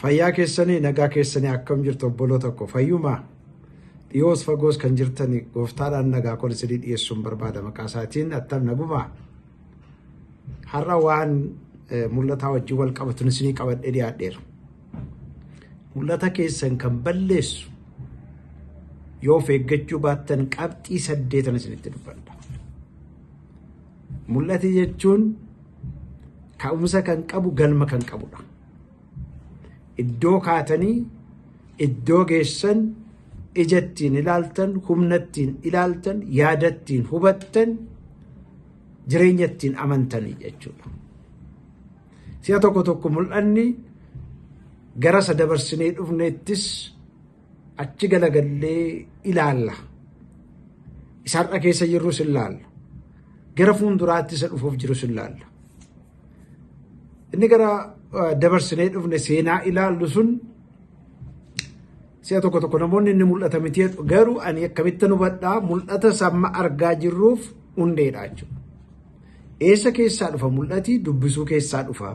Fayyaa keessanii nagaa keessanii akkam jirtu obboloota koo fayyumaa dhiyoos fagoos kan jirtani gooftaadhaan nagaa koo isinii dhiyeessuun barbaada maqaa isaatiin attam nagumaa har'a waan eh, mul'ataa wajjin wal qabatun isinii qabadhee dhiyaadheera mul'ata keessan kan balleessu yoo of eeggachuu baattan qabxii saddeetan isinitti dubbadha Mul'ati jechuun ka'umsa kan qabu galma kan qabudha. Iddoo kaatanii iddoo geessan ija ittiin ilaaltan, humna ittiin ilaaltan, yaada ittiin hubattan, jireenya ittiin amantanii jechuudha. Si'a tokko tokko mul'anni gara isa dabarsinee dhufneettis Achi galagallee ilaalla. Isa har'a keessa jirrus ilaalla. Gara fuulduraatti isa dhufuuf jirus ilaalla. Inni gara dabarsinee dhufne seenaa ilaallu sun si'a tokko tokko namoonni inni mul'ata miti jedhu garuu ani akkamittan hubadhaa mul'ata samma argaa jirruuf hundeedha jechuudha. Eessa keessaa dhufa mul'ati dubbisuu keessaa dhufa.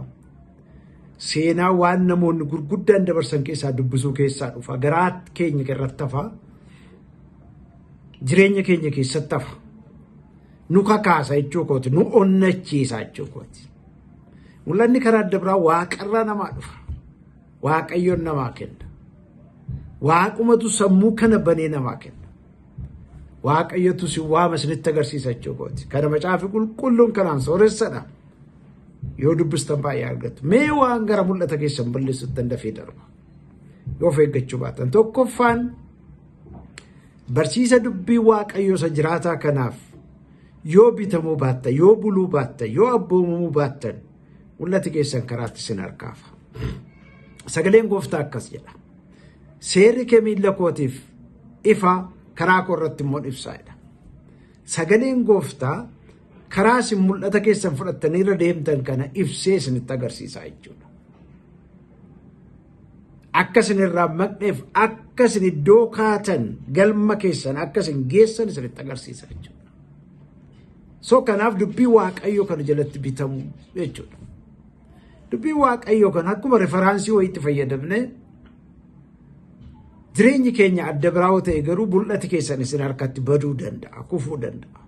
Seenaa waan namoonni gurguddaan dabarsan keessaa dubbisuu keessaa dhufa. Garaa keenya irratti hafa. Jireenya keenya keessatti hafa. Nu kakaasa jechuu kooti. Nu onnachiisa jechuu kooti. Mul'anni karaa adda biraa waaqarraa namaa dhufa. Waaqayyoon namaa kenna. Waaqumatu sammuu kana banee namaa kenna. Waaqayyotu si waama isinitti agarsiisa jechuu kooti. Kana macaafi qulqulluun kanaan sooressadha. Yoo dubbistan baay'ee argattu. Mee waan gara mul'ata keessan balleessuttan dafee darba. Yoo of eeggachuu baatan. Tokkoffaan barsiisa dubbii waaqayyoo isa jiraataa kanaaf yoo bitamuu baattan, yoo buluu baattan, yoo abboomamuu baattan mul'ati keessan karaatti sin harkaafa. Sagaleen gooftaa akkas jedha. Seerri kee miilla kootiif ifa karaa koo irratti immoo ibsaadha. Sagaleen gooftaa Karaa isin mul'ata keessan fudhattanii irra deemtan kana ibsee isinitti agarsiisaa jechuudha. Akka isin irraa maqneef akka isin iddoo kaatan galma keessan akka isin geessan isinitti agarsiisa jechuudha. So kanaaf dubbii waaqayyoo kana jalatti bitamu jechuudha. Dubbii waaqayyoo kana akkuma referaansii wayiitti fayyadamne jireenyi keenya adda biraa ta'e garuu mul'ati keessan isin harkatti baduu danda'a, kufuu danda'a.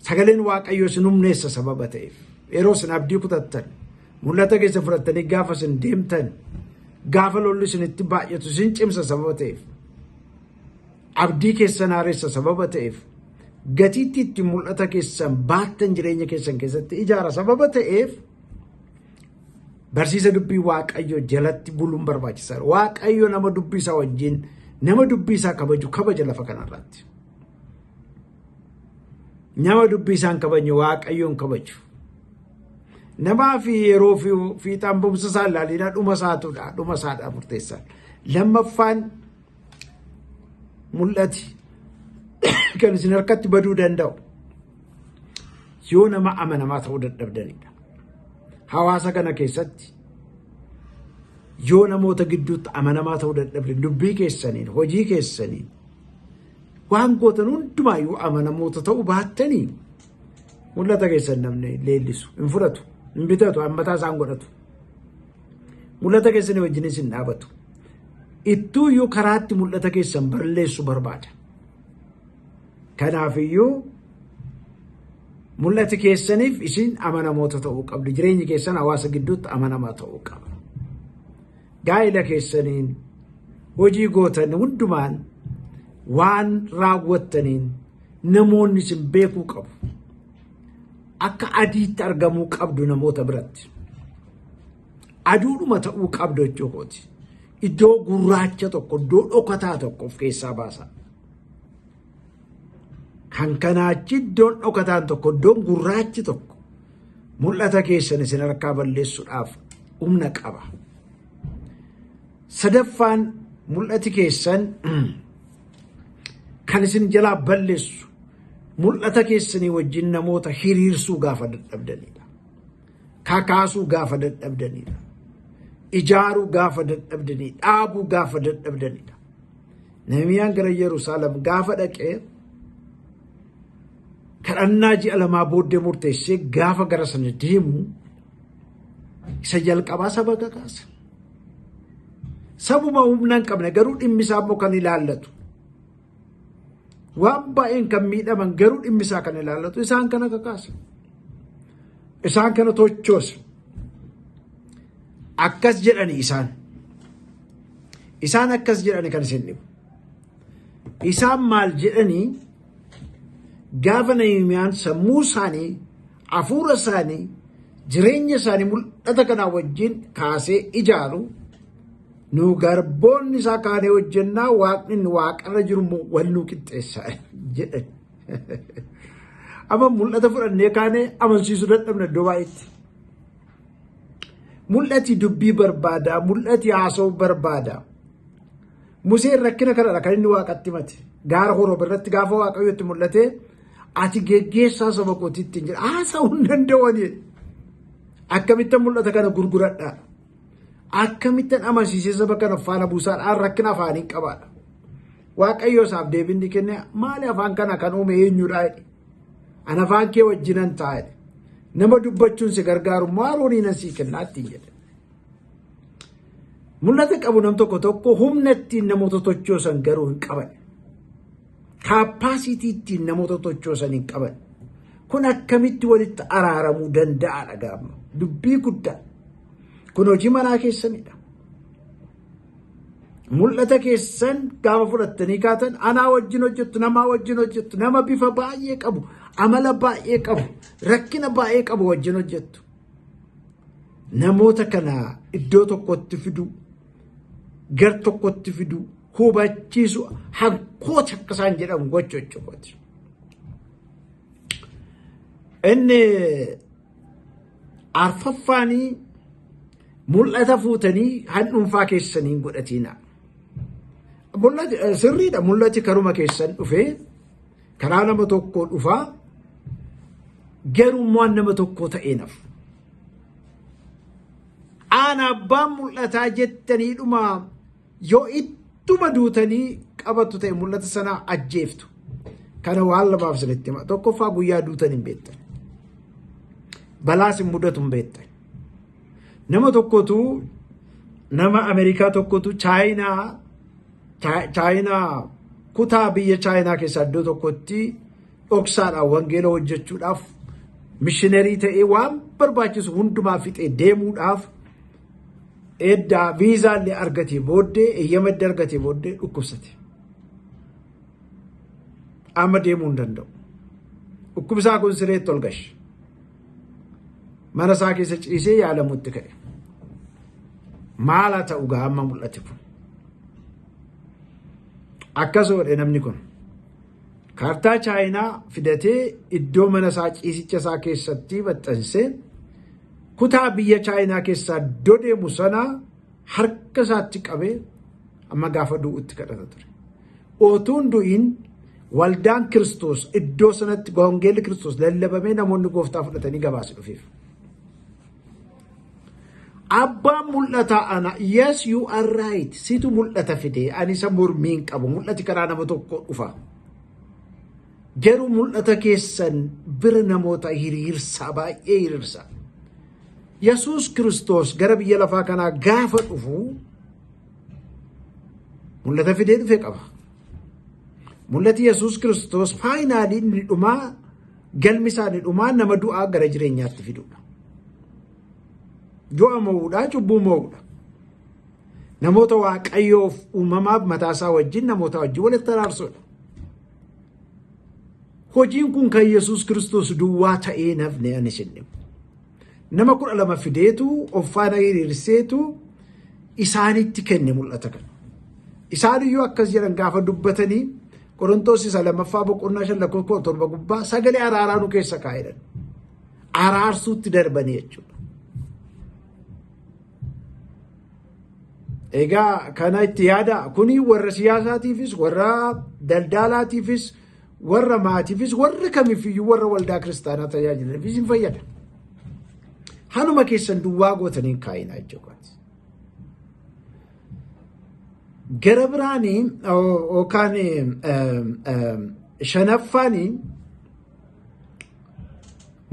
Sagaleen Waaqayyoo isin humneessa sababa ta'eef yeroo isin abdii kutattan mul'ata keessa fudhattanii gaafa isin deemtan gaafa lolli isinitti baay'atu isin cimsa sababa ta'eef abdii keessan haaressa sababa ta'eef gatiitti itti mul'ata keessan baattan jireenya keessan keessatti ijaara sababa ta'eef barsiisa dubbii waaqayyoo jalatti buluun barbaachisaadha. Waaqayyo nama dubbii isaa wajjin nama dubbii isaa kabaju kabaja lafa kanarratti. Nama dubbii isaa hin kabajne waaqayyoon kabaju. Namaa fi yeroo fi fiixaan bumsa isaa ilaalinaa dhuma isaatudha. Dhuma isaadha murteessaan. Lammaffaan mul'ati kan isin harkatti baduu danda'u yoo nama amanamaa ta'uu dadhabdanidha. Hawaasa kana keessatti yoo namoota gidduutti amanamaa ta'uu dadhabdan dubbii keessaniin hojii keessaniin waan gootan hundumaa yoo amanamoota ta'uu baattanii mul'ata keessan namni leellisu hin fudhatu hin bitatu hammataa isaan godhatu mul'ata keessanii wajjinis hin dhaabatu. ittuuyyuu karaatti mul'ata keessan barleessu barbaada. Kanaafiyyuu mul'ati keessaniif isin amanamoota ta'uu qabdu. Jireenyi keessan hawaasa gidduutti amanamaa ta'uu qaba. Gaa'ila keessaniin hojii gootan hundumaan waan raawwattaniin namoonni isin beekuu qabu. Akka adiitti argamuu qabdu namoota biratti. Aduudhuma ta'uu qabda jechuu kooti. Iddoo gurraacha tokko, iddoo dhokataa tokko of keessaa baasa. Kan kanaachi iddoon dhokataan tokko, iddoon gurraachi tokko mul'ata keessan isin harkaa balleessuudhaaf humna qaba. Sadaffaan mul'ati keessan kan isin jalaa balleessu mul'ata keessanii wajjin namoota hiriirsuu gaafa dadhabdanidha. Kakaasuu gaafa dadhabdanidha. Ijaaruu gaafa dadhabdanii dhaabuu gaafa dadhabdanidha. Nahimiyaan gara Yerusaalem gaafa dhaqee kadhannaa ji'a lamaa booddee murteessee gaafa gara sana deemu isa jalqabaa saba kakaasa. Sabuma humna hin qabne garuu dhimmi isaa immoo kan ilaallatu waan baay'een kan miidhaman garuu dhimmi isaa kan ilaallatu isaan kana kakaasa. Isaan kana tochoosa. Akkas jedhani isaan. Isaan akkas jedhani kan isin dhibu. Isaan maal jedhanii gaafa Nahimiyaan sammuu isaanii, hafuura isaanii, jireenya isaanii mul'ata kanaa wajjin kaasee ijaaru Nu garboonni isaa kaanee hojjennaa waaqni inni waaqarra jiru immoo wal nu qixxeessa jedhan. Amma mul'ata fudhannee kaanee amansiisuu dadhabna iddoo baay'eetti. Mul'ati dubbii barbaada, mul'ati haasa'uu barbaada. Museen rakkina kanadha kan inni waaqatti himate. Gaara Horoob irratti gaafa waaqayyo itti mul'ate ati geggeessaa saba kootiitti hin jedha. Haasa'uu hin danda'u ani. Akkamitti mul'ata kana gurguradha? Akkamittan amansiisee saba kana faana buusaadha rakkina afaanii qabaadha. Waaqayyo isaaf deebiin ni kenne maali afaan kana kan uume eenyudha jedhe. An afaan kee wajjinan ta'a jedhe. Nama dubbachuun si gargaaru maaroonii nan sii kennaa ittiin jedhe. Mul'ata qabu nam tokko tokko humna ittiin namoota tochoosan garuu hin qaban. Kaappaasiitii ittiin namoota tochoosan hin qaban. Kun akkamitti walitti araaramuu danda'aadha gaama. Dubbii guddaa. Kun hojii manaa keessanidha. Mul'ata keessan gaafa fudhattanii kaatan anaa wajjin hojjettu, namaa wajjin hojjettu, nama bifa baay'ee qabu, amala baay'ee qabu, rakkina baay'ee qabu wajjin hojjettu. Namoota kana iddoo tokkotti fiduu, gar tokkotti fiduu, hubachiisu hankooti akka isaan jedhan gochuu jechuudha. Inni arfaffaanii mul'ata fuutanii handhuunfaa keessaniin godhatiina. Sirriidha mul'ati karuma keessan dhufee karaa nama tokkoo dhufaa garummaan nama tokkoo ta'ee naf. Aan abbaan mul'ataa jettaniidhuma Yoo ittuma duutanii qabattu ta'e mul'ata sanaa ajjeeftu. Kana waan lamaaf isinitti hima. Tokkoffaa guyyaa duutan hin beektan. Balaas hin mudatu hin beektan. Nama tokkotu nama Ameerikaa tokkotu Chaayinaa Chaayinaa kutaa biyya Chaayinaa keessaa iddoo tokkotti dhoksaadhaan wangeela hojjechuudhaaf mishinerii ta'ee waan barbaachisu hundumaa fixee deemuudhaaf Edda viizaa illee argatee booddee eeyyama edda argatee booddee dhukkubsate. Amma deemuu hin danda'u. Dhukkubsaa kun sireetti ol gashe. Mana isaa keessa ciisee yaalamutti ka'e. Maala ta'u gaa amma mul'ate kun. Akkas godhe namni kun. Kaartaa Chaayinaa fidatee iddoo mana isaa ciisicha isaa keessatti maxxansee Kutaa biyya Chaayinaa keessaa dodeemu sana harka isaatti qabee amma gaafa du'utti kadhata ture. Otuun du'iin waldaan Kiristoos iddoo sanatti wangeelli Kiristoos lallabamee namoonni gooftaa fudhatanii gabaasi dhufeef. Abbaan mul'ataa ana yes you are right situ mul'ata fide ani isa mormiin qabu mul'ati karaa nama tokko dhufa. Garuu mul'ata keessan bira namoota hiriirsaa baay'ee hiriirsaa. Yesuus Kiristoos gara biyya lafaa kanaa gaafa dhufu mul'ata fidee dhufe qaba. Mul'ati Yesuus Kiristoos faayinaalii inni dhumaa galmi isaanii dhumaa nama du'aa gara jireenyaatti fidudha. Du'a mo'uudhaa cubbuu mo'uudha. Namoota waaqayyoof uumamaaf mataasaa wajjin namoota wajjin walitti araarsuudha. Hojiin kun kan Yesuus Kiristoos duwwaa ta'ee nafne ani isin dhibu. Nama kudha lama fideetu of faana hiriirseetu isaanitti kenne mul'ata kana. Isaan iyyuu akkas jedhan gaafa dubbatanii Qorontoos isa lammaffaa boqonnaa shan lakkoofsa kudha torba gubbaa sagalee araaraa nu keessa kaa'edhan. Araarsuutti darbanii jechuudha. Egaa kana itti yaada kuni warra siyaasaatiifis warra daldaalaatiifis warra maatiifis warra kamifiyyuu warra waldaa kiristaanaa tajaajilaniifis hin fayyada. Hanuma keessan duwwaa gootanii kaa'inaa jechuudha. Gara biraanii yookaan shanaffaanii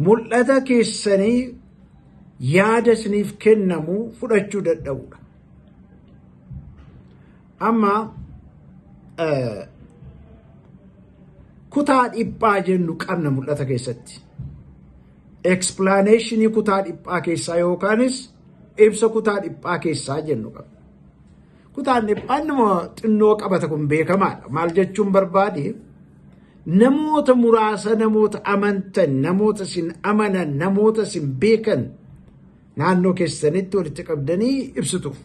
mul'ata keessanii yaada isiniif kennamu fudhachuu dadhabudha. Amma kutaa dhiphaa jennu qabna mul'ata keessatti. Ekspilaaneeshinii kutaa dhiphaa keessaa yookaanis ibsa kutaa dhiphaa keessaa jennu qabna. Kutaan dhiphaan nama xinnoo qabata kun beekamaadha. Maal jechuun barbaade namoota muraasa namoota amantan, namoota sin amanan, namoota sin beekan naannoo keessanitti walitti qabdanii ibsituuf.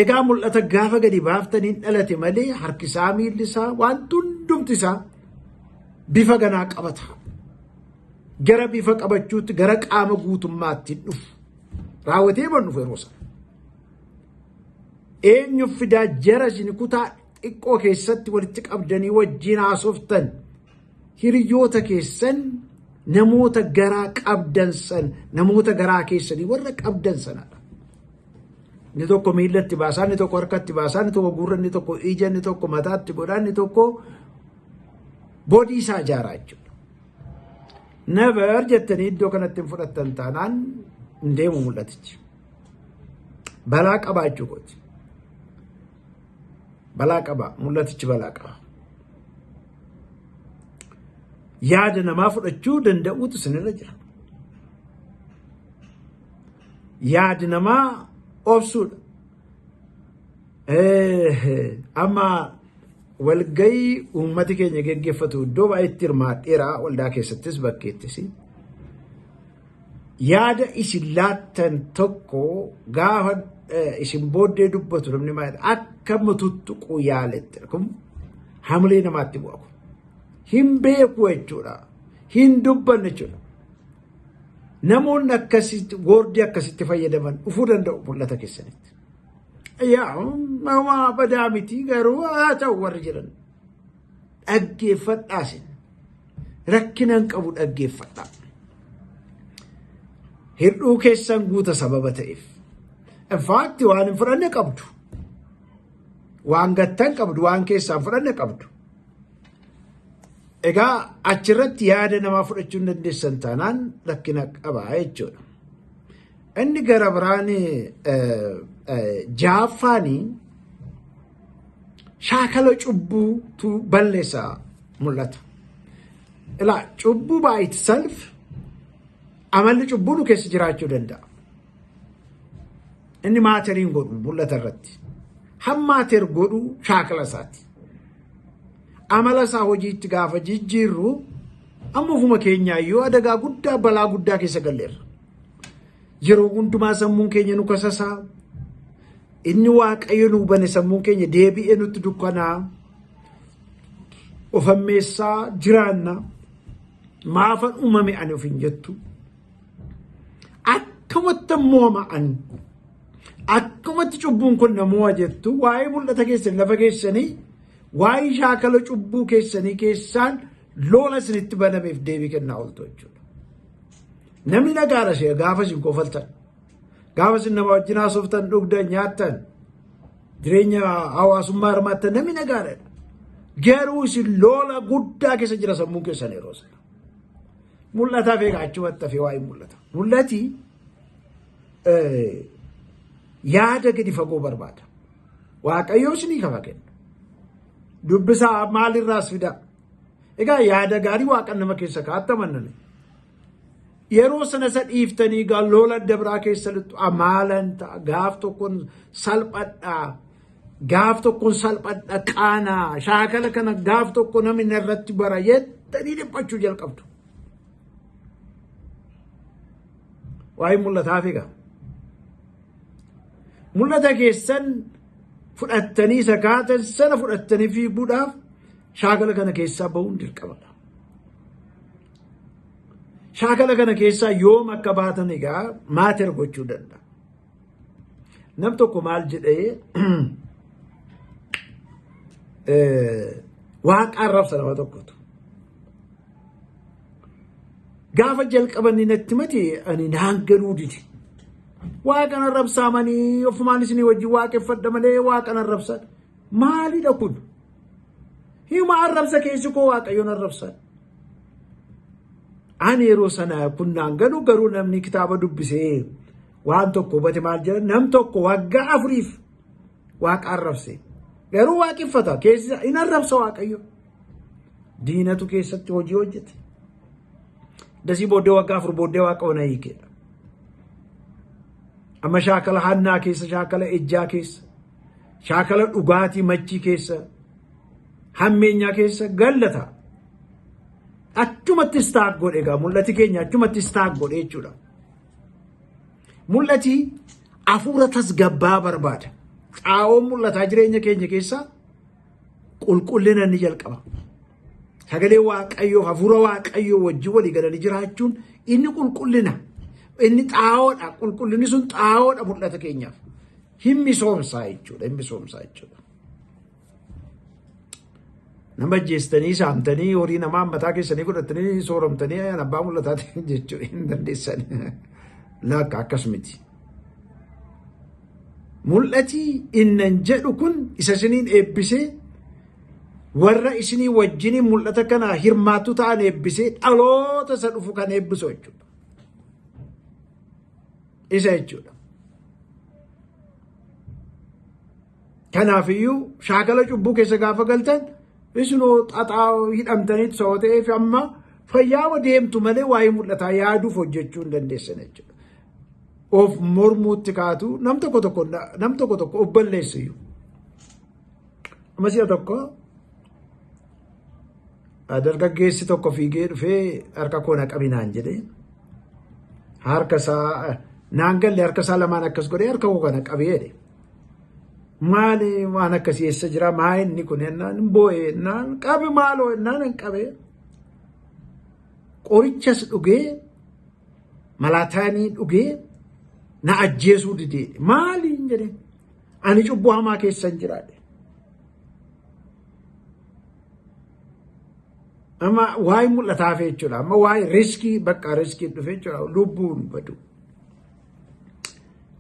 Egaa mul'ata gaafa gadi baaftaniin dhalate malee harkisaa miilli isaa waan hundumti isaa bifa ganaa qabata. Gara bifa qabachuutti gara qaama guutummaatti dhufu. Raawwatee man dhufu yeroo sana. Eenyu fidaa jara isin kutaa xiqqoo keessatti walitti qabdanii wajjin haasoftan hiriyoota keessan namoota garaa qabdan san namoota garaa keessanii warra qabdan sanadha. Inni tokko miillatti baasaa, inni tokko harkatti baasaa, inni tokko gurra, inni tokko ija, inni tokko mataatti godhaa, inni tokko boodii isaa ijaaraa jechuudha. Never jettanii iddoo kanatti hin fudhattan taanaan hin deemu mul'atichi. Balaa qabaa jechuu kooti. Balaa qabaa mul'atichi balaa qabaa. Yaada namaa fudhachuu danda'uutu isinirra jira. Yaadi namaa obsuudha. Amma walgayii uummati keenya geggeeffatu iddoo baay'eetti hirmaadheera waldaa keessattis bakkeettis. Yaada isin laattan tokko gaafa isin booddee dubbatu namni maayilaa akka mututtuquu yaaletti kun hamilee namaatti bu'a kun. Hin beeku jechuudha. Hin dubbanne jechuudha. Namoonni akkasitti woordii akkasitti fayyadaman dhufuu danda'u mul'ata keessanitti. Yaa homaa badaa miti garuu haa ta'u warri jedhan dhaggeeffadhaa sin rakkinaan qabu dhaggeeffadhaa. Hir'uu keessan guuta sababa ta'eef. Infaatti waan hin fudhanne qabdu. Waan gattan qabdu, waan keessaan fudhanne qabdu. Egaa achirratti yaada namaa fudhachuu hin dandeessan taanaan rakkina qaba jechuudha. Inni gara biraan jaaffaanii shaakala cubbuutu balleessa mul'ata. Ilaa cubbuu by itself amalli cubbuu nu keessa jiraachuu danda'a. Inni maateriin godhu mul'ata irratti. Hammaateer godhu shaakala isaati. Amala isaa hojiitti gaafa jijjiirru amma ofuma keenyaa yoo adagaa guddaa balaa guddaa keessa galleerra. Yeroo hundumaa sammuun keenya nu kasasaa. Inni waaqayyo nu bane sammuun keenya deebi'ee nutti dukkanaa. Of ammeessaa jiraanna. Maafan uumame ani of hin jettu. akkamatti mooma'an akkamatti cubbuun kun namoa jettu waa'ee mul'ata keessan lafa keessanii waa'ee shaakala cubbuu keessanii keessaan loola isinitti banameef deebii kennaa ooltu jechuudha. Namni nagaara ishee gaafa isin kofaltan gaafa isin nama wajjin haasoftan dhugdan nyaattan jireenya hawaasummaa hirmaattan namni nagaadha. Garuu isin loola guddaa keessa jira sammuun keessan yeroo sana. Mul'ataa beeka achumatti hafee waa'ee mul'ata. Mul'ati yaada gadi fagoo barbaada. Waaqayyoo isinii kafa kenna. Dubbisaa maalirraas fidaa. Egaa yaada gaarii waaqan nama keessa kaa'atta mannani. Yeroo sana isa dhiiftanii gaa loola adda biraa keessa lixxu amaalan ta'a gaaf tokkoon salphadhaa gaaf tokkon salphadha qaanaa shaakala kana gaaf tokko namni irratti bara jettanii dhiphachuu jalqabdu. Waa'ee mul'ataa figa. Mul'ata keessan fudhattanii sakaatan sana fudhattanii fiiguudhaaf shaakala kana keessaa bahuun dirqamadha. Shaakala kana keessaa yoom akka baatan egaa maater gochuu danda'a. Nam tokko maal jedhee waaqa arrabsa nama tokkotu. Gaafa jalqabanni natti mati ani naan galuu dide. Waaqan arrabsaa manii ofumaan isinii wajjin waaqeffadha malee waaqan arrabsaa. Maalidha kun? Hima arrabsa keessi koo waaqayyoon arrabsaa. Ani yeroo sana kun naan galu garuu namni kitaaba dubbisee Waan tokko hubate maal jedha nam tokko waggaa afuriif waaqa arrabse. Garuu waaqeffata keessa hin arrabsa waaqayyo. Diinatu keessatti hojii hojjete. Dasii booddee waggaa afur booddee waaqa ona hiikeedha. Amma shaakala hannaa keessa, shaakala ejjaa keessa, shaakala dhugaatii machii keessa, hammeenyaa keessa gallata. Achumatti istaak godhe egaa mul'ati keenya achumatti istaak godhe jechuudha. Mul'ati afuura tasgabbaa barbaada. Xaa'oon mul'ataa jireenya keenya keessaa qulqullina ni jalqaba. Sagalee Waaqayyoo, hafuura Waaqayyoo wajjin walii galanii jiraachuun inni qulqullina. Inni xaa'oodha. Qulqullinni sun xaa'oodha mul'ata keenyaaf. Hin misoomsaa jechuudha. Hin misoomsaa jechuudha. Nama ajjeestanii saamtanii horii namaa mataa keessanii godhatanii sooramtanii ayaan abbaa mul'ataatiin jechuu hin dandeessan. Laakka akkas miti. Mul'ati innan jedhu kun isa isiniin eebbisee warra isinii wajjiniin mul'ata kana hirmaattu ta'an eebbisee dhaloota isa dhufu kan eebbisu jechuudha. Isa jechuudha. Kanaafiyyuu shaakala cubbuu keessa gaafa galtan isinoo xaxaa hidhamtaniitu sababa ta'eef amma fayyaama deemtu malee waa'ee mul'ataa yaaduuf hojjechuu hin dandeessan jechuudha. Of mormuutti kaatu nam tokko tokko nam tokko tokko of balleessiyyuu. Amma si'a tokko dargaggeessi tokko fiigee dhufee harka koo na qabinaan jedhee harka isaa naan galle harka isaa lamaan akkas godhee harka koo kana qabee jedhe. Maali waan akkasii eessa jira maa inni kun hennaan hin boo'e hennaan qabi maaloo hennaan hin qabe. Qorichas dhugee malaataanii dhugee na ajjeesuu didee maali hin jedhe ani cubbuu hamaa keessa hin jiraadhe. Amma waa'ee mul'ataa fi jechuudha amma waa'ee riskii bakka riskii dhufe jechuudha lubbuun badu.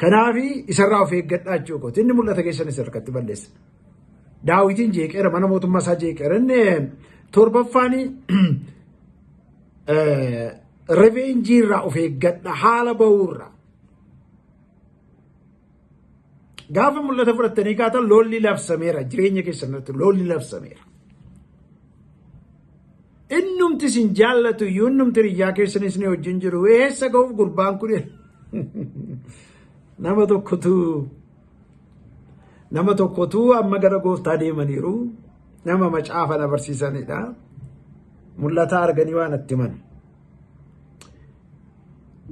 Kanaafi isarraa of eeggadhaa jechuu kooti. Inni mul'ata keessan isa harkatti balleessa. Daawitiin jeeqeera mana mootummaa isaa jeeqeera. Inni torbaffaan reveenjii irraa of eeggadha haala ba'uurraa. Gaafa mul'ata fudhattanii kaatan loolli labsameera jireenya keessan irratti loolli labsameera. Innumti isin jaallatu iyyuu innumti riyyaa keessan isin wajjin jiru eessa ga'uuf gurbaan kun nama tokkotu nama tokkotu amma gara gooftaa deemaniiru nama macaafa na barsiisanidha. Mul'ata arganii waan itti himan.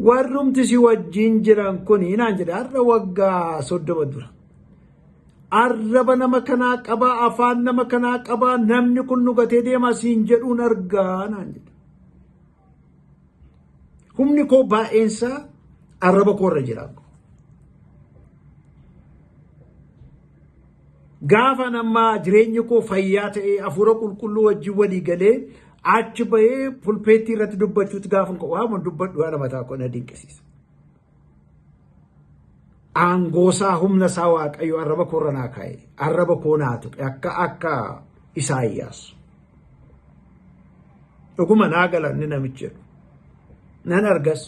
warrumti si wajjin jiran kun naan jedhe har'a waggaa soddoma dura arraba nama kanaa qabaa afaan nama kanaa qabaa namni kun nu gatee deemaa siin jedhuun argaa naan jedhe humni koo baay'eensaa arraba koo irra jira Gaafan amma jireenyi koo fayyaa ta'ee hafuura qulqulluu wajjin walii galee achi bahee pulpeettii irratti dubbachuutti gaafan ka'u waan dubbadhu haadha mataa koo na dinqisiisa. Aangoosaa humna isaa waaqayyo arraba koo irra naa kaa'e arraba koo naa tuqe akka akka Isaayyaas. Dhuguma naa galanni namichi jedhu nan argas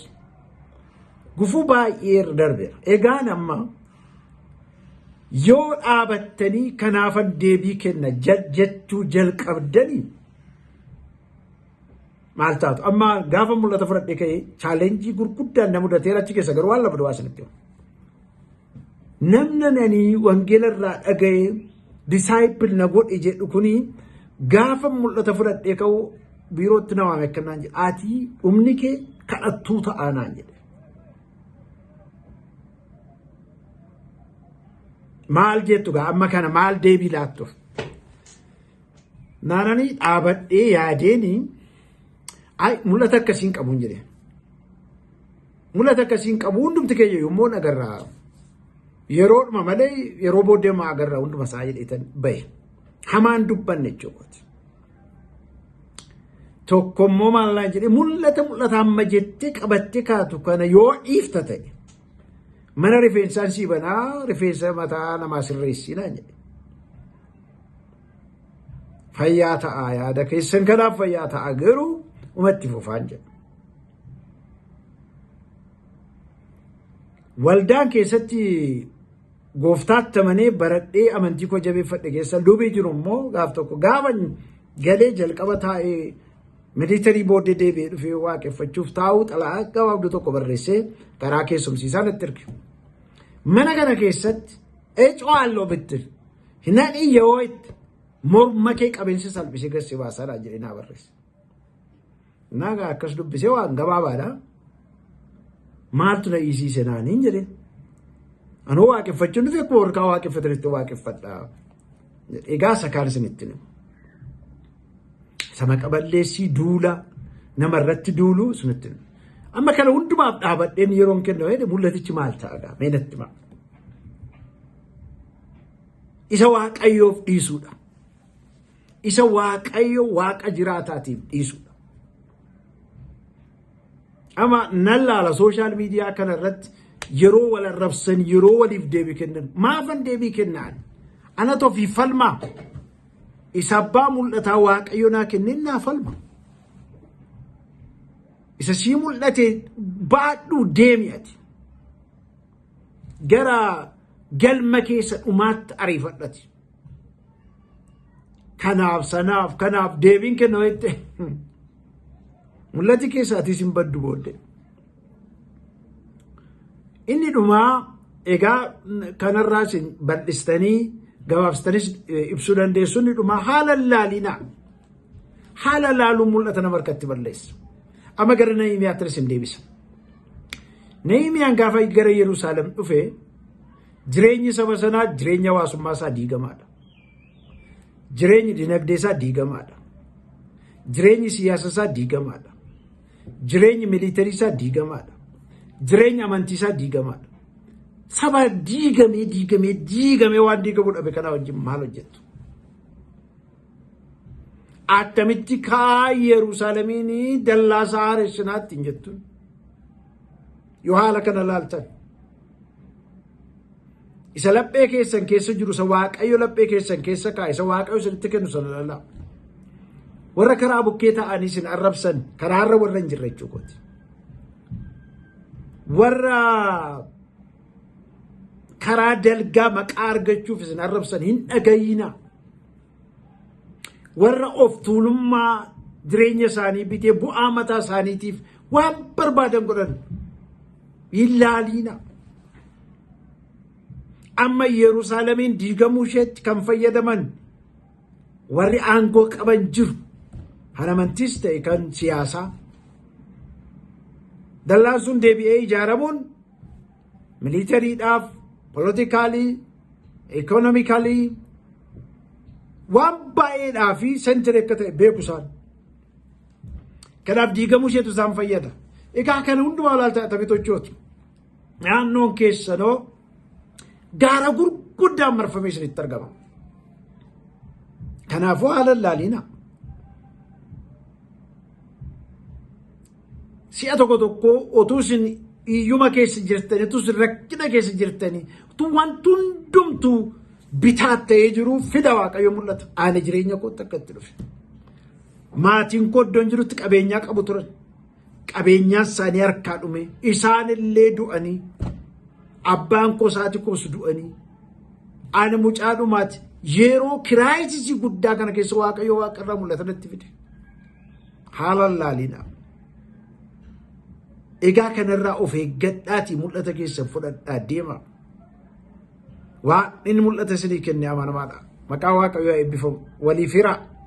gufuu baay'ee irra darbeera. Egaan amma Yoo dhaabattanii kanaafan deebii kenna jechuu jalqabdanii maal taatu? Amma gaafa mul'ata fudhadhe ka'ee chaalenjii gurguddaan na mudateera achi keessa garuu waan lama duwwaa isinitti hima. Namna nanii wangeela irraa dhaga'ee disaayipil na godhe jedhu kuni gaafa mul'ata fudhadhee ka'u biirootti na waame akka naan jedhe ati dhumni kee kadhattuu ta'aa naan jedhe. Maal jettu gaa amma kana maal deebii laattuuf? Naananii dhaabadhee yaadeenii ay mul'ata akkasiin qabuun jedhe. Mul'ata akkasiin qabu hundumti keenya yommuu agarraa yeroodhuma malee yeroo booddee maa agarraa hunduma isaa jedheetan bahe. Hamaan dubbanne jechuudha. Tokko immoo maallaa jedhee mul'ata mul'ata amma jettee qabattee kaatu kana yoo dhiifta ta'e mana rifeensaan sii banaa rifeensa mataa namaa sirreessinaa jedhe. Fayyaa ta'aa yaada keessan kanaaf fayyaa ta'aa garuu umatti fufaan jedha. Waldaan keessatti gooftaatti amanee baradhee amantii koo jabeeffadhe keessa lubii jiru immoo gaaf tokko gaafa galee jalqaba taa'ee militarii booddee deebi'ee dhufee waaqeffachuuf taa'uu xalaa gabaabduu tokko barreessee karaa keessumsiisaa natti erge. Mana kana keessatti ecoo halloo bitti hinadhii yeroo itti morma kee qabeensi salphisee gassi baasaadha jedhee naa barreesse. Naga akkas dubbisee waan gabaabaadha. Maaltu na dhiisiise naaniin jedhe. Anoo waaqeffachuun dhufe akkuma warqaa waaqeffatanitti waaqeffadha. Egaa isa kaan isinitti hima. Isa maqa balleessii duula nama irratti duulu isinitti hima. Amma kana hundumaaf dhaabadheen yeroon kenna jedhe mul'atichi maal ta'agaa mee natti hima. Isa waaqayyoof dhiisuudha. Isa Waaqayyo Waaqa jiraataatiif dhiisudha. Amma nan laala sooshaal miidiyaa kana irratti yeroo wal arrabsan yeroo waliif deebii kennan maafan deebii kennaan ana tofii falmaa isa abbaa mul'ataa Waaqayyo naa kenneen naa falma. Isa sii mul'ate baadhuu deemi ati. Gara galma keessa dhumaatti ariifadhati. kanaaf sanaaf kanaaf deebiin kenna jette mul'ati keessaatiis hin baddu boodde. Inni dhumaa egaa kanarraas bal'istanii gabaabsitanis ibsuu dandeessu inni dhumaa haala laalina haala laaluun mul'ata nama harkatti balleessu. Amma gara Nahimiyaattinis hin deebisa. Nahimiyaan gaafa gara Yerusaalem dhufe Jireenyi saba sanaa jireenya hawaasummaa isaa diigamaadha. Jireenyi dinagdee isaa diigamaadha. Jireenyi siyaasa isaa diigamaadha. Jireenyi miliitarii isaa diigamaadha. Jireenyi amantii isaa diigamaadha. Saba diigamee diigamee diigamee waan diigamuu dhabe kanaa wajjin maal hojjettu? Attamitti kaa Yerusaalemiin dallaa isaa haaressinaatti hin jettuun? Yoo haala kana ilaaltan isa laphee keessan keessa jiru isa waaqayyo laphee keessan keessa kaa'e isa waaqayyo isinitti kennu sana ilaalaa. Warra karaa bukkee ta'anii isin arrabsan karaarra warra hin jirre jechuu kooti. Warra karaa dalgaa maqaa argachuuf isin arrabsan hin dhagayina. warra of tuulummaa jireenya isaanii bitee bu'aa mataa isaaniitiif waan barbaadan godhan hin laaliina. Amma Yerusaalemiin diigamuu isheetti kan fayyadaman warri aangoo qaban jiru. Kan amantiis ta'e kan siyaasaa. Dallaan sun deebi'ee ijaaramuun Miliitariidhaaf, polotikaalii, ikoonomikalii waan baay'eedhaa fi sentire akka ta'e beeku isaan. Kanaaf diigamuu isheetu isaan fayyada. Egaa kana hundumaa ilaalta atabitochooti. Naannoon keessanoo gaara gurguddaan marfamee isinitti argama. Kanaafuu haala laaliina. Si'a tokko tokko otuu isin hiyyuma keessa jirtanii, otuu isin rakkina keessa jirtanii, otuu wanti hundumtuu bitaa ta'ee jiru fida Waaqayyo mul'ata. Haala jireenya kootti akka itti dhufe. Maatiin koo iddoon jirutti qabeenyaa qabu turan. Qabeenyaan isaanii harkaa dhume. Isaan illee du'anii. Abbaan koo isaati koos du'anii. Ani mucaa dhumaati. Yeroo kiraayisisii guddaa kana keessa Waaqayyo Waaqarraa mul'ata natti fide. Haalaan laalina. Egaa kanarraa of eeggadhaatii mul'ata keessan fudhadhaa deema. Waan inni mul'ata isinii kenne amanamaadha. Maqaa Waaqayyoo eebbifamu. Waliif hiraa.